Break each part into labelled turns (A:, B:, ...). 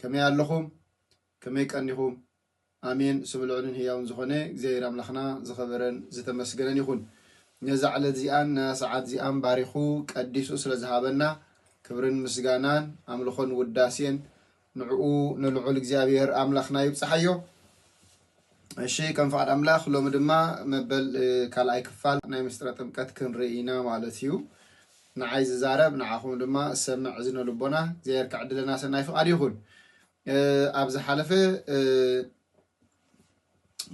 A: ከመይ ኣለኹም ከመይ ቀኒኹም ኣሜን ስሙ ልዑልን ህያውን ዝኾነ እግዚኣብሔር ኣምላኽና ዝኸበረን ዝተመስገነን ይኹን ነዛ ዕለት እዚኣን ነዛ ሰዓት እዚኣን ባሪኹ ቀዲሱ ስለ ዝሃበና ክብርን ምስጋናን ኣምልኾን ውዳሴን ንዕኡ ንልዑል እግዚኣብሔር ኣምላኽና ይብጽሓዮ እሺ ከም ፍቃድ ኣምላክ ሎሚ ድማ መበል ካልኣይ ክፋል ናይ ምስጢረ ጥምቀት ክንርኢ ኢና ማለት እዩ ንዓይ ዝዛረብ ንዓኹም ድማ ዝሰምዕ እዝነ ልቦና እግዚኣብሔር ክዕድለና ሰናይ ፍቃድ ይኹን ኣብ ዝሓለፈ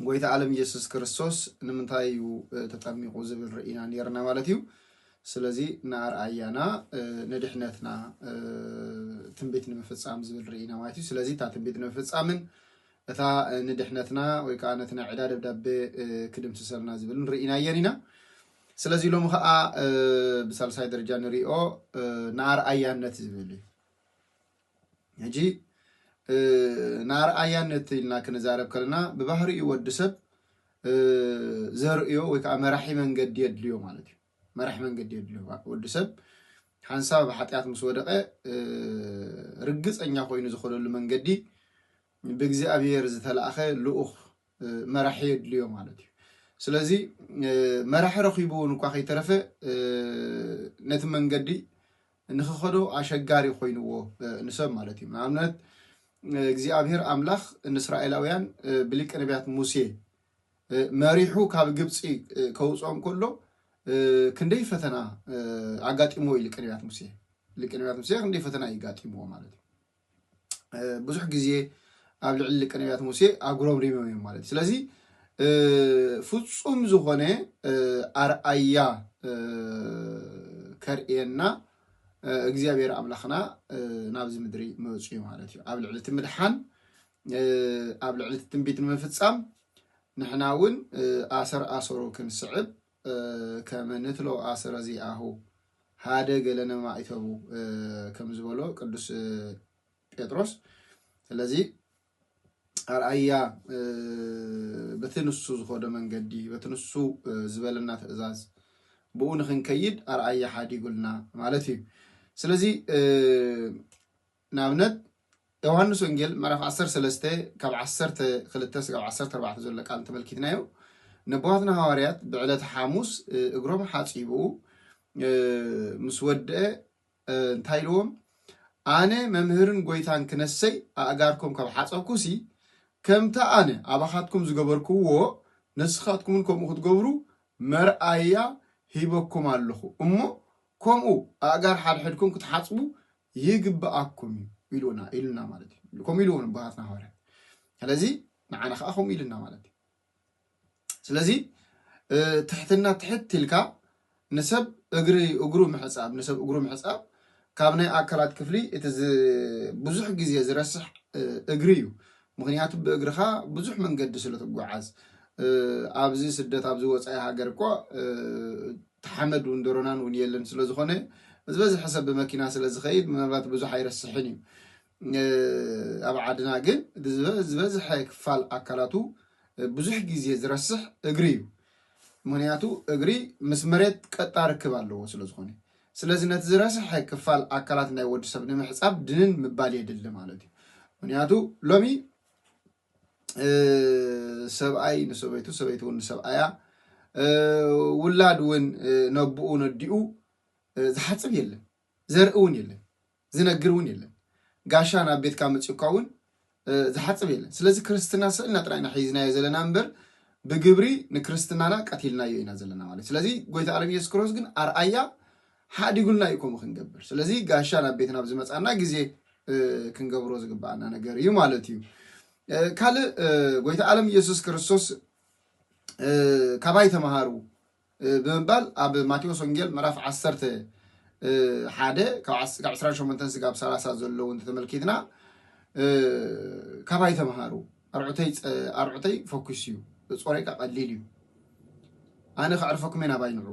A: ጎይታ ዓለም ኢየሱስ ክርስቶስ ንምንታይ እዩ ተጠሚቑ ዝብል ርኢና ነርና ማለት እዩ ስለዚ ንኣርኣያና ንድሕነትና ትንቢት ንምፍፃም ዝብል ርኢና ማለት እዩ ስለዚ እታ ትንቢት ንምፍፃምን እታ ንድሕነትና ወይ ከኣ ነቲ ናይ ዕዳ ደብዳቤ ክድምስሰልና ዝብልን ርኢናየን ኢና። ስለዚ ሎሚ ከኣ ብሳልሳይ ደረጃ ንሪኦ ንኣርኣያነት ዝብል እዩ። ሕጂ ንኣርኣያነት ኢልና ክንዛረብ ከለና ብባህሪኡ ወዲ ሰብ ዘርእዮ ወይ ከኣ መራሒ መንገዲ የድልዮ ማለት እዩ። መራሕ መንገዲ የድልዮ ወዲ ሰብ ሓንሳብ ኣብ ሓጢኣት ምስ ወደቐ ርግፀኛ ኮይኑ ዝኸደሉ መንገዲ ብእግዚኣብሔር ዝተላእኸ ልኡኽ መራሒ የድልዮ ማለት እዩ ስለዚ መራሒ ረኺቡ እውን እኳ ከይተረፈ ነቲ መንገዲ ንክኸዶ ኣሸጋሪ ኮይንዎ ንሰብ ማለት እዩ ንኣብነት እግዚኣብሔር ኣምላኽ ንእስራኤላውያን ብሊቀ ነቢያት ሙሴ መሪሑ ካብ ግብፂ ከውፅኦም ከሎ ክንደይ ፈተና ኣጋጢሞ እዩ ሊቀ ነቢያት ሙሴ ሊቀ ነቢያት ሙሴ ክንደይ ፈተና እዩ ጋጢምዎ ማለት እዩ ብዙሕ ግዜ ኣብ ልዕሊ ሊቀ ነቢያት ሙሴ ኣጉረምሪሞም እዮም ማለት እዩ ስለዚ ፍፁም ዝኾነ ኣርኣያ ከርእየና እግዚኣብሔር ኣምላኽና ናብዚ ምድሪ መፅኡ ማለት እዩ ኣብ ልዕሊ እቲ ምድሓን ኣብ ልዕሊ እቲ ትንቢት ንምፍፃም ንሕና እውን ኣሰር ኣሰሩ ክንስዕብ ከመ ንትሎ ኣሰረ ዚኣሁ ሃደ ገለ ነማኢተቡ ከም ዝበሎ ቅዱስ ጴጥሮስ። ስለዚ ኣርኣያ በቲ ንሱ ዝኸዶ መንገዲ በቲ ንሱ ዝበለና ትእዛዝ ብኡ ንክንከይድ ኣርኣያ ሓዲጉልና ማለት እዩ። ስለዚ ንኣብነት ዮውሃንስ ወንጌል ምዕራፍ ዓሰርተ ሰለስተ ካብ ዓሰርተ ክልተ ስጋብ ዓሰርተ ኣርባዕተ ዘሎ ቃል እንተመልኪትናዮ ነቦዋትና ሃዋርያት ብዕለተ ሓሙስ እግሮም ሓጺቡ ምስ ወድአ እንታይ ኢልዎም ኣነ መምህርን ጎይታን ክነሰይ ኣእጋርኩም ካብ ሓጸብኩሲ ከምታ ኣነ ኣባኻትኩም ዝገበርኩዎ ንስኻትኩምን ከምኡ ክትገብሩ መርኣያ ሂበኩም ኣለኹ እሞ ከምኡ ኣእጋር ሓድሕድኩም ክትሓጽቡ ይግብኣኩም እዩ ኢሉና ኢሉና ማለት እዩ ከምኡ ኢሉ እውን ኣቦታትና ሃዋርያት ስለዚ ንዓና ከዓ ከምኡ ኢሉና ማለት እዩ ስለዚ ትሕትና ትሕት ኢልካ ንሰብ እግሪ እግሩ ምሕፃብ ንሰብ እግሩ ምሕፃብ ካብ ናይ ኣካላት ክፍሊ እቲ ብዙሕ ግዜ ዝረስሕ እግሪ እዩ ምክንያቱ ብእግርካ ብዙሕ መንገዲ ስለ ትጓዓዝ ኣብዚ ስደት ኣብዚ ወፃኢ ሃገር እኮ ተሓመድ እውን ደሮናን እውን የለን ስለዝኾነ ዝበዝሐ ሰብ ብመኪና ስለዝኸይድ ምናልባት ብዙሕ ኣይረስሕን እዩ ኣብ ዓድና ግን ዝበዝሐ ክፋል ኣካላቱ ብዙሕ ግዜ ዝረስሕ እግሪ እዩ ምክንያቱ እግሪ ምስ መሬት ቀጣ ርክብ ኣለዎ ስለዝኾነ ስለዚ ነቲ ዝረሰሐ ክፋል ኣካላት ናይ ወዲ ሰብ ንምሕጻብ ድንን ምባል የድሊ ማለት እዩ። ምክንያቱ ሎሚ ሰብኣይ ንሰበይቱ ሰበይቲ እውን ንሰብኣያ ውላድ እውን ነብኡ ነዲኡ ዝሓፅብ የለን፣ ዘርኢ እውን የለን። ዝነግር እውን የለን። ጋሻ ናብ ቤትካ መጺኡካ እውን ዝሓጽብ የለን። ስለዚ ክርስትና ስእልና ጥራይ ኢና ሒዝናዮ ዘለና እምበር ብግብሪ ንክርስትናና ቀቲልናዮ ኢና ዘለና ማለት ስለዚ ጎይታ ኣለም ኢየሱስ ክርስቶስ ግን ኣርኣያ ሓዲጉልና እዩ ከምኡ ክንገብር ስለዚ ጋሻ ናብ ቤትና ኣብ ዝመፃና ግዜ ክንገብሮ ዝግባኣና ነገር እዩ ማለት እዩ ካልእ ጎይታ ኣለም ኢየሱስ ክርስቶስ ካባይ ተምሃሩ ብምባል ኣብ ማቴዎስ ወንጌል ምዕራፍ ዓሰርተ ሓደ ካብ ዕስራን ሸሞንተን ስጋብ ሰላሳ ዘለዉ እንተተመልኪትና ካባይ ተምሃሩ ኣርዑተይ ፈኲስ እዩ ጾረይካ ቀሊል እዩ ኣነ ከዕርፈኩም እየ ናባይ ንዑ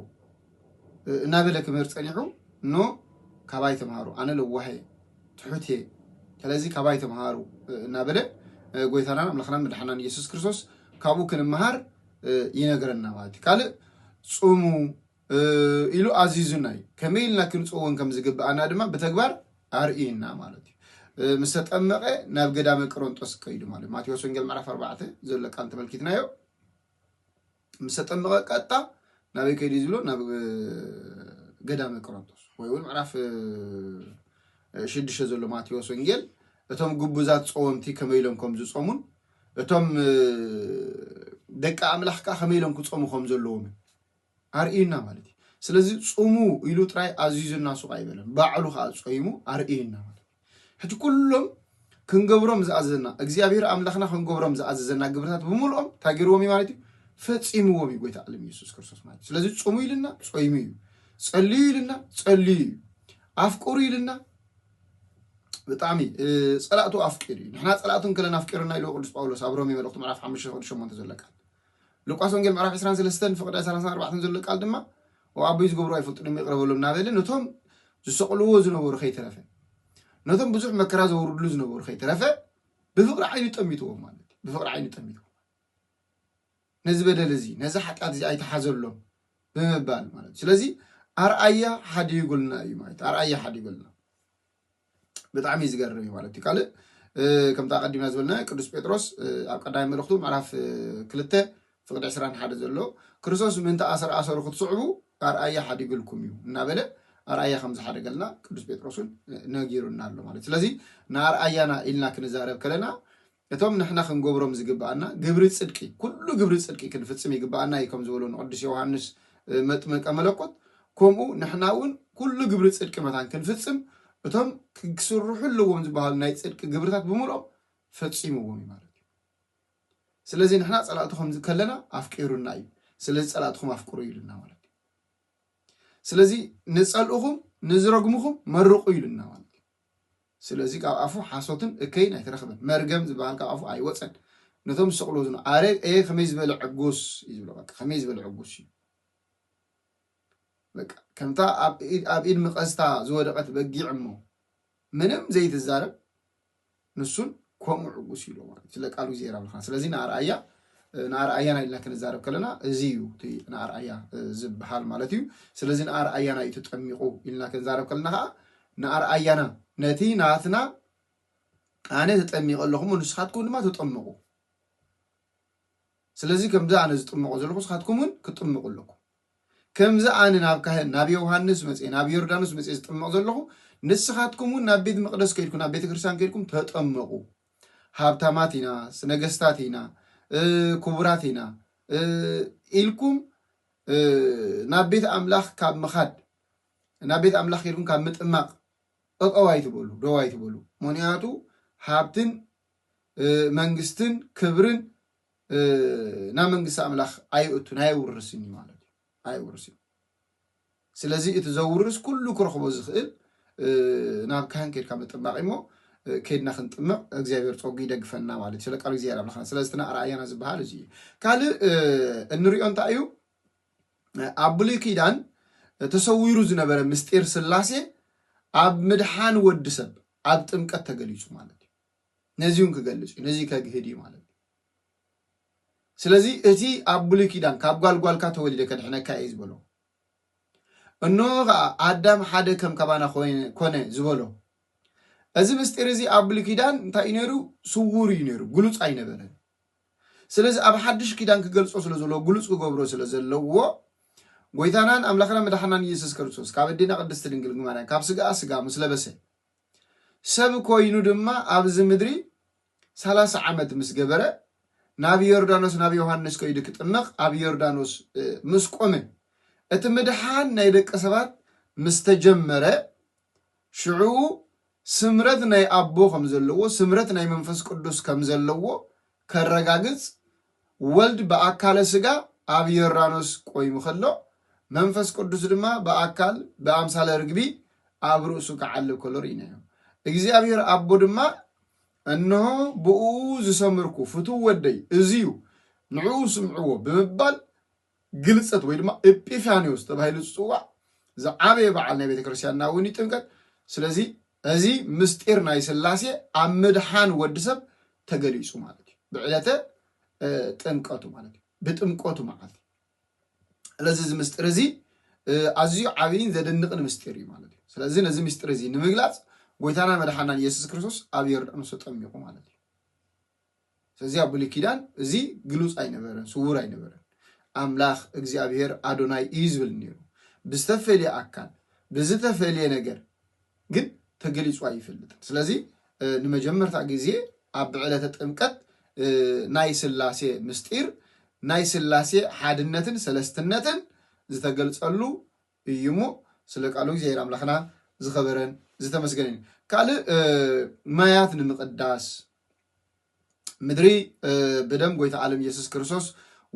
A: እናበለ ክምህር ፀኒሑ እኖ ካባይ ተምሃሩ ኣነ ለዋህ እየ ትሑት እየ ስለዚ ካባይ ተምሃሩ እናበለ ጎይታናን ኣምላኽናን መድሓናን ኢየሱስ ክርስቶስ ካብኡ ክንምሃር ይነግረና ማለት እዩ ካልእ ፁሙ ኢሉ ኣዚዙና እዩ ከመይ ኢልና ክንፅወን ከም ዝግብኣና ድማ ብተግባር ኣርእዩና ማለት እዩ ምስ ተጠመቐ ናብ ገዳመ ቅሮንጦስ ከይዱ ማለት ማቴዎስ ወንጌል ምዕራፍ ኣርባዕተ ዘሎ ቃል ተመልኪትናዮ ምስ ተጠመቐ ቀጣ ናበይ ከይዱ ዝብሎ ናብ ገዳመ ቅሮንጦስ ወይ እውን ምዕራፍ ሽዱሽተ ዘሎ ማቴዎስ ወንጌል እቶም ግቡዛት ፀወምቲ ከመይ ኢሎም ከም ዝፀሙን እቶም ደቂ ኣምላኽ ከ ከመይ ኢሎም ክጸሙ ከም ዘለዎም ኣርእዩና ማለት እዩ ስለዚ ጽሙ ኢሉ ጥራይ ኣዚዙና ሱቕ ኣይበለን ባዕሉ ከዓ ጾይሙ ኣርእዩና ማለት እዩ ሕጂ ኩሎም ክንገብሮም ዝኣዘዘና እግዚኣብሔር ኣምላኽና ክንገብሮም ዝኣዘዘና ግብርታት ብምልኦም እንታይ ገይርዎም እዩ ማለት እዩ ፈጺምዎም እዩ ጎይታ ዓለም ኢየሱስ ክርስቶስ ማለት እዩ ስለዚ ጽሙ ኢልና ጾይሙ እዩ ጸልዩ ኢልና ጸልዩ እዩ ኣፍቅሩ ኢልና ብጣዕሚ ጸላእቱ ኣፍቂሩ እዩ ንሕና ጸላእቱ እንከለና ኣፍቂሩና ኢልዎ ቅዱስ ጳውሎስ ኣብ ሮሜ መልእኽቱ ምዕራፍ 5 ቅዱስ 8 ዘሎ ቃል ሉቃስ ወንጌል ምዕራፍ 23 ፍቕደ 34 ዘሎ ቃል ድማ ኣቦይ ዝገብሩ ኣይፈልጡን እዮም ይቕረ በሎም እናበለ ነቶም ዝሰቕልዎ ዝነበሩ ከይተረፈ ነቶም ብዙሕ መከራ ዘውርድሉ ዝነበሩ ከይተረፈ ብፍቕሪ ዓይኑ ጠሚትዎም ማለት እዩ ብፍቕሪ ዓይኑ ጠሚትዎም ነዚ በደል እዚ ነዚ ሓጢኣት እዚ ኣይትሓዘሎም ብምባል ማለት እዩ ስለዚ ኣርኣያ ሓዲጉልና እዩ ማለት ኣርኣያ ሓዲጉልና ብጣዕሚ እዩ ዝገርም እዩ ማለት እዩ ካልእ ከምቲ ኣቀዲምና ዝበልና ቅዱስ ጴጥሮስ ኣብ ቀዳማይ መልእኽቱ ምዕራፍ ክልተ ፍቅዲ ዕስራን ሓደ ዘሎ ክርስቶስ ምእንቲ ኣሰር ኣሰሩ ክትስዕቡ ኣርኣያ ሓዲግልኩም እዩ እናበለ ኣርኣያ ከም ዝሓደገልና ቅዱስ ጴጥሮስን ነጊሩና ኣሎ ማለት ስለዚ ንኣርኣያና ኢልና ክንዛረብ ከለና እቶም ንሕና ክንገብሮም ዝግብኣና ግብሪ ጽድቂ ኩሉ ግብሪ ጽድቂ ክንፍጽም ይግብኣና እዩ ከም ዝበሎ ንቅዱስ ዮውሃንስ መጥምቀ መለኮት ከምኡ ንሕና እውን ኩሉ ግብሪ ጽድቂ መታን ክንፍጽም እቶም ክስርሑ ኣለዎም ዝበሃሉ ናይ ጽድቂ ግብርታት ብምልኦም ፈጺምዎም እዩ ማለት እዩ ስለዚ ንሕና ጸላእቲ ከም ከለና ኣፍቂሩና እዩ ስለዚ ጸላእትኹም ኣፍቅሩ ኢሉና ማለት እዩ ስለዚ ንጸልእኹም ንዝረግምኹም መርቑ ኢሉና ማለት እዩ ስለዚ ካብ ኣፉ ሓሶትን እከይን ኣይተረኽበን። መርገም ዝበሃል ካብ ኣፉ ኣይወጸን። ነቶም ዝሰቕልዎ ዝነበሩ ኣረ ኣየ ከመይ ዝበለ ዕጉስ እዩ ዝብሎ በቃ ከመይ ዝበለ ዕጉስ እዩ በቃ ከምታ ኣብ ኢድ መቐዝታ ዝወደቐት በጊዕ እሞ ምንም ዘይትዛረብ ንሱን ከምኡ ዕጉስ እዩ ማለት ስለ ቃሉ እግዚኣብሔር ኣምላኽና ስለዚ ንኣርኣያ ንኣርኣያና ኢልና ክንዛረብ ከለና እዚ እዩ እቲ ንኣርኣያ ዝበሃል ማለት እዩ ስለዚ ንኣርኣያና እዩ ተጠሚቑ ኢልና ክንዛረብ ከለና ከዓ ንኣርኣያና ነቲ ናትና ኣነ ተጠሚቀ ኣለኹ እሞ ንስኻትኩም ድማ ተጠመቑ ስለዚ ከምዚ ኣነ ዝጥመቆ ዘለኹ ንስኻትኩም እውን ክትጥመቁ ኣለኩም ከምዚ ኣነ ናብ ካህን ናብ ዮውሃንስ መጽ ናብ ዮርዳኖስ መጽ ዝጥመቕ ዘለኹ ንስኻትኩም እውን ናብ ቤት መቕደስ ከይድኩም ናብ ቤተ ክርስቲያን ከይድኩም ተጠመቑ ሃብታማት ኢና ነገስታት ኢና ክቡራት ኢና ኢልኩም ናብ ቤት ኣምላኽ ካብ ምኻድ ናብ ቤት ኣምላኽ ኬድኩም ካብ ምጥማቕ ጠጠው ኣይትበሉ፣ ደው ኣይትበሉ። ምኽንያቱ ሃብትን መንግስትን ክብርን ናብ መንግስቲ ኣምላኽ ኣይእቱን ኣየውርስን እዩ ማለት እዩ፣ ኣየውርስን እዩ። ስለዚ እቲ ዘውርስ ኩሉ ክረኽቦ ዝኽእል ናብ ካህን ኬድካ ምጥማቕ እዩ እሞ ኬድና ክንጥምቕ እግዚኣብሔር ጸጉ ይደግፈና ማለት እዩ። ስለ ቃሉ እግዚኣብሔር ኣምላኽና ስለዚ እቲ ኣርኣያና ዝበሃል እዚ እዩ። ካልእ እንሪኦ እንታይ እዩ? ኣብ ብሉይ ኪዳን ተሰዊሩ ዝነበረ ምስጢር ስላሴ ኣብ ምድሓን ወዲ ሰብ ኣብ ጥምቀት ተገሊጹ ማለት እዩ ነዚ እውን ክገልጽ እዩ ነዚ ከግህድ እዩ ማለት እዩ ስለዚ እቲ ኣብ ብሉይ ኪዳን ካብ ጓልጓልካ ተወሊደ ከድሕነካ እየ ዝበሎ እንሆ ከዓ ኣዳም ሓደ ከም ካባና ኮነ ዝበሎ እዚ ምስጢር እዚ ኣብ ብሉይ ኪዳን እንታይ እዩ ነይሩ ስውር እዩ ነይሩ ግሉፅ ኣይነበረን ስለዚ ኣብ ሓድሽ ኪዳን ክገልጾ ስለ ዘለዎ ግሉጽ ክገብሮ ስለ ዘለዎ ጎይታናን ኣምላኽና መድሓናን ኢየሱስ ክርስቶስ ካብ ኣዴና ቅድስቲ ድንግል ማርያም ካብ ስጋኣ ስጋ ምስ ለበሰ ሰብ ኮይኑ ድማ ኣብዚ ምድሪ ሰላሳ ዓመት ምስ ገበረ ናብ ዮርዳኖስ ናብ ዮሃንስ ከይዱ ክጥመቕ ኣብ ዮርዳኖስ ምስ ቆመ እቲ ምድሓን ናይ ደቂ ሰባት ምስ ተጀመረ ሽዑ ስምረት ናይ ኣቦ ከም ዘለዎ፣ ስምረት ናይ መንፈስ ቅዱስ ከም ዘለዎ ከረጋግጽ፣ ወልድ ብኣካለ ስጋ ኣብ ዮርዳኖስ ቆይሙ ከሎ፣ መንፈስ ቅዱስ ድማ ብኣካል ብኣምሳለ ርግቢ ኣብ ርእሱ ክዓልብ ከሎ ርኢናዮ። እግዚኣብሔር ኣቦ ድማ እንሆ ብእኡ ዝሰምርኩ ፍቱው ወደይ እዚዩ ንዕኡ ስምዕዎ ብምባል ግልጽት ወይ ድማ እጲፋንዮስ ተባሂሉ ዝጽዋዕ ዝዓበየ በዓል ናይ ቤተ ክርስቲያንና እውን ይጥምቀት። ስለዚ እዚ ምስጢር ናይ ስላሴ ኣብ ምድሓን ወዲ ሰብ ተገሊጹ ማለት እዩ። ብዕለተ ጥምቀቱ ማለት እዩ። ብጥምቀቱ መዓልቲ። ስለዚ እዚ ምስጢር እዚ ኣዝዩ ዓብይን ዘደንቕን ምስጢር እዩ ማለት እዩ። ስለዚ ነዚ ምስጢር እዚ ንምግላጽ ጎይታና መድሓናን ኢየሱስ ክርስቶስ ኣብ ዮርዳኖስ ተጠሚቑ ማለት እዩ። ስለዚ ኣብ ብሉይ ኪዳን እዚ ግሉፅ ኣይነበረን፣ ስውር ኣይነበረን። ኣምላኽ እግዚኣብሄር ኣዶናይ እዩ ዝብል ነይሩ። ብዝተፈልየ ኣካል ብዝተፈልየ ነገር ግን ተገሊፁ ኣይፈልጥን። ስለዚ ንመጀመርታ ግዜ ኣብ ዕለተ ጥምቀት ናይ ስላሴ ምስጢር ናይ ስላሴ ሓድነትን ሰለስትነትን ዝተገልጸሉ እዩ እሞ ስለ ቃሉ እግዚኣብሔር ኣምላክና ዝከበረን ዝተመስገነን እዩ ካልእ ማያት ንምቅዳስ ምድሪ ብደም ጎይታ ዓለም ኢየሱስ ክርስቶስ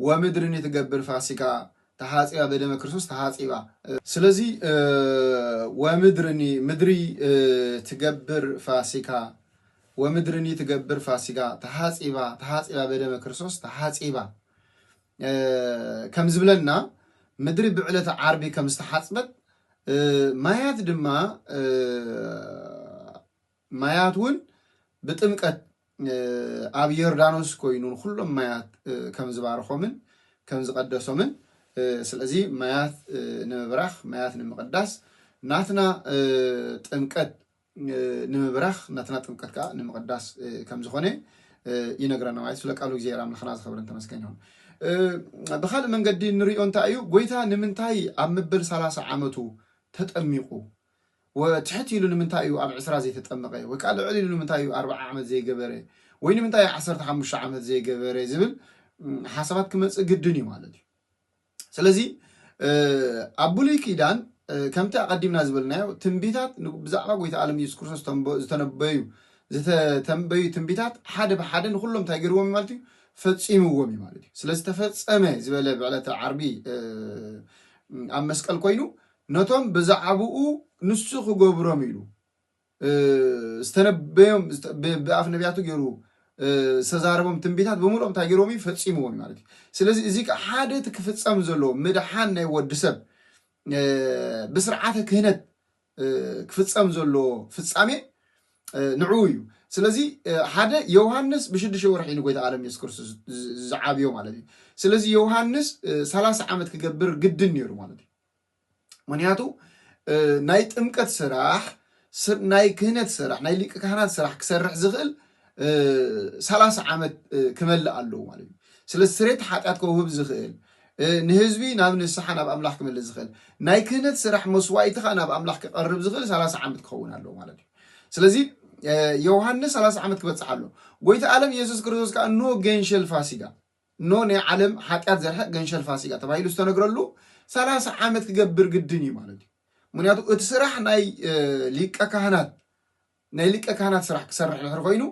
A: ወምድርን ትገብር ፋሲካ ተሓጺባ በደመ ክርስቶስ ተሓጺባ ስለዚ ወምድርኒ ምድሪ ትገብር ፋሲካ ወምድርኒ ትገብር ፋሲካ ተሓጺባ ተሓጺባ በደመ ክርስቶስ ተሓጺባ ከም ዝብለና ምድሪ ብዕለተ ዓርቢ ከም ዝተሓጽበት ማያት ድማ ማያት እውን ብጥምቀት ኣብ ዮርዳኖስ ኮይኑ ንኩሎም ማያት ከም ዝባርኾምን ከም ዝቐደሶምን ስለዚ ማያት ንምብራኽ ማያት ንምቕዳስ ናትና ጥምቀት ንምብራኽ ናትና ጥምቀት ከኣ ንምቕዳስ ከም ዝኾነ ይነግረና ማለት ስለ ቃሉ እግዚኣብሔር ኣምላኽና ዝኸብርን ተመስገን ይኹን። ብኻልእ መንገዲ ንሪኦ እንታይ እዩ ጎይታ ንምንታይ ኣብ ምብል ሰላሳ ዓመቱ ተጠሚቑ ወትሕት ኢሉ ንምንታይ እዩ ኣብ ዕስራ ዘይተጠመቐ ወይ ከዓ ልዕል ኢሉ ንምንታይ እዩ ኣርባዓ ዓመት ዘይገበረ ወይ ንምንታይ ዓሰርተ ሓሙሽተ ዓመት ዘይገበረ ዝብል ሓሳባት ክመፅእ ግድን እዩ ማለት እዩ። ስለዚ ኣብ ብሉይ ኪዳን ከምቲ ኣቐዲምና ዝበልናዮ ትንቢታት ብዛዕባ ጎይታ ኣለም ኢየሱስ ክርስቶስ ዝተነበዩ ዝተተንበዩ ትንቢታት ሓደ ብሓደ ንኹሎም እንታይ ገይርዎም እዩ ማለት እዩ ፈፂምዎም እዩ ማለት እዩ ስለ ዝተፈፀመ ዝበለ ብዕለተ ዓርቢ ኣብ መስቀል ኮይኑ ነቶም ብዛዕባኡ ንሱ ክገብሮም ኢሉ ዝተነበዮም ብኣፍ ነቢያቱ ገይሩ ዝተዛረቦም ትንቢታት ብምሉኦም እንታይ ገይሮም እዩ ፈፂምዎም ማለት እዩ ስለዚ እዚ ከዓ ሓደ እቲ ክፍፀም ዘለዎ ምድሓን ናይ ወዲ ሰብ ብስርዓተ ክህነት ክፍፀም ዘለዎ ፍፃሜ ንዕኡ እዩ ስለዚ ሓደ ዮሃንስ ብሽዱሽተ ወርሒ ንጎይታ ቃለም የሱስ ክርስቶስ ዝዓብዮ ማለት እዩ ስለዚ ዮሃንስ ሰላሳ ዓመት ክገብር ግድን ነይሩ ማለት እዩ ምክንያቱ ናይ ጥምቀት ስራሕ ናይ ክህነት ስራሕ ናይ ሊቀ ካህናት ስራሕ ክሰርሕ ዝኽእል ሰላሳ ዓመት ክመልእ ኣለዎ ማለት እዩ ስለዚ ስሬት ሓጢኣት ከውህብ ዝኽእል ንህዝቢ ናብ ንስሓ ናብ ኣምላኽ ክመልእ ዝኽእል ናይ ክህነት ስራሕ መስዋኢትኻ ናብ ኣምላኽ ክቐርብ ዝኽእል ሰላሳ ዓመት ክኸውን ኣለዎ ማለት እዩ ስለዚ ዮሃንስ ሰላሳ ዓመት ክበፅሕ ኣሎ ጎይታ ኣለም የሱስ ክርስቶስ ከዓ ኖ ገንሸል ፋሲጋ እኖ ናይ ዓለም ሓጢኣት ዘርሕቅ ገንሸል ፋሲጋ ተባሂሉ ዝተነግረሉ ሰላሳ ዓመት ክገብር ግድን እዩ ማለት እዩ። ምክንያቱ እቲ ስራሕ ናይ ሊቀ ካህናት ናይ ሊቀ ካህናት ስራሕ ክሰርሕ ድሕሪ ኮይኑ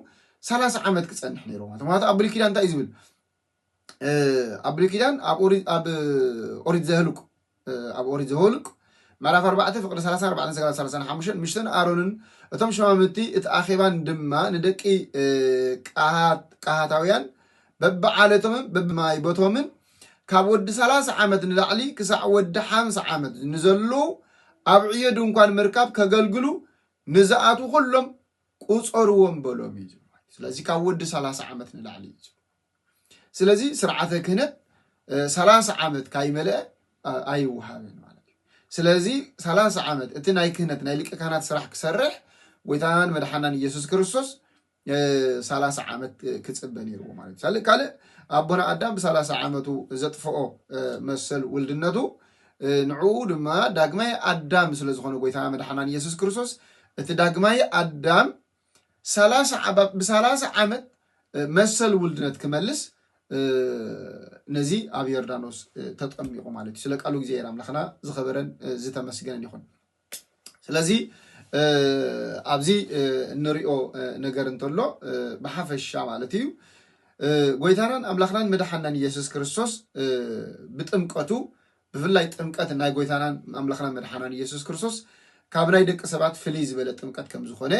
A: ሰላሳ ዓመት ክፀንሕ ነይሩ ማለት ምክንያቱ ኣብ ብሉይ ኪዳን እንታይ እዩ ዝብል ኣብ ብሉይ ኪዳን ኣብ ኦሪት ዘህልቁ ኣብ ኦሪት ዘወልቅ ምዕራፍ ኣርባዕተ ፍቅዲ ሰላሳ ኣርባዕተን ሰጋል ሰላሳን ሓሙሽተን ምሽተን ኣሮንን እቶም ሽማምቲ እቲ ኣኼባን ድማ ንደቂ ቀሃታውያን በብዓለቶምን በብማይ ቦቶምን ካብ ወዲ ሰላሳ ዓመት ንላዕሊ ክሳዕ ወዲ ሓምሳ ዓመት ንዘሉ ኣብ ዕዮ ድንኳን ምርካብ ከገልግሉ ንዝኣትዉ ኩሎም ቁፀርዎም በሎም እዩ ዝብሉ ስለዚ ካብ ወዲ ሰላሳ ዓመት ንላዕሊ እዩ ዝብሉ ስለዚ ስርዓተ ክህነት ሰላሳ ዓመት ካይመልአ ኣይወሃብን ማለት እዩ። ስለዚ ሰላሳ ዓመት እቲ ናይ ክህነት ናይ ሊቀ ካህናት ስራሕ ክሰርሕ ጎይታናን መድሓናን ኢየሱስ ክርስቶስ ሰላሳ ዓመት ክፅበ ነይርዎ ማለት እዩ። ካልእ ኣቦና ኣዳም ብሰላሳ ዓመቱ ዘጥፍኦ መሰል ውልድነቱ ንዕኡ ድማ ዳግማይ ኣዳም ስለዝኾነ ጎይታና መድሓናን ኢየሱስ ክርስቶስ እቲ ዳግማይ ኣዳም ሰላሳ ብ ብሰላሳ ዓመት መሰል ውልድነት ክመልስ ነዚ ኣብ ዮርዳኖስ ተጠሚቑ ማለት እዩ ስለ ቃሉ እግዚኣብሔር ኣምላኽና ዝኸበረን ዝተመስገነን ይኹን ስለዚ ኣብዚ እንሪኦ ነገር እንተሎ ብሓፈሻ ማለት እዩ ጎይታናን ኣምላኽናን መድሓናን ኢየሱስ ክርስቶስ ብጥምቀቱ ብፍላይ ጥምቀት ናይ ጎይታናን ኣምላኽናን መድሓናን ኢየሱስ ክርስቶስ ካብ ናይ ደቂ ሰባት ፍልይ ዝበለ ጥምቀት ከም ዝኾነ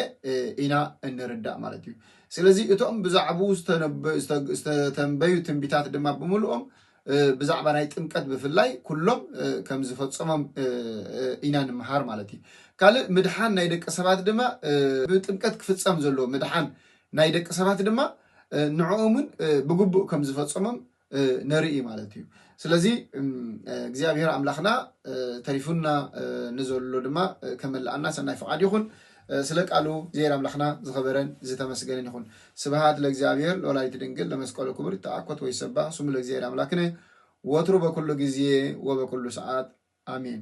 A: ኢና እንርዳእ ማለት እዩ። ስለዚ እቶም ብዛዕብኡ ዝተተንበዩ ትንቢታት ድማ ብምልኦም ብዛዕባ ናይ ጥምቀት ብፍላይ ኩሎም ከም ዝፈጸሞም ኢና ንምሃር ማለት እዩ። ካልእ ምድሓን ናይ ደቂ ሰባት ድማ ብጥምቀት ክፍጸም ዘለዎ ምድሓን ናይ ደቂ ሰባት ድማ ንዕኦምውን ብግቡእ ከም ዝፈጸሞም ንርኢ ማለት እዩ ስለዚ እግዚኣብሔር ኣምላኽና ተሪፉና ንዘሎ ድማ ከመልኣና ሰናይ ፍቃድ ይኹን ስለ ቃሉ እግዚኣብሔር ኣምላኽና ዝኸበረን ዝተመስገንን ይኹን ስብሃት ለእግዚኣብሔር ለወላዲቱ ድንግል ለመስቀሉ ክቡር ይተኣኮት ወይ ሰባህ ስሙ ለእግዚኣብሔር ኣምላክነ ወትሩ በኩሉ ጊዜ ወበኩሉ ሰዓት ኣሜን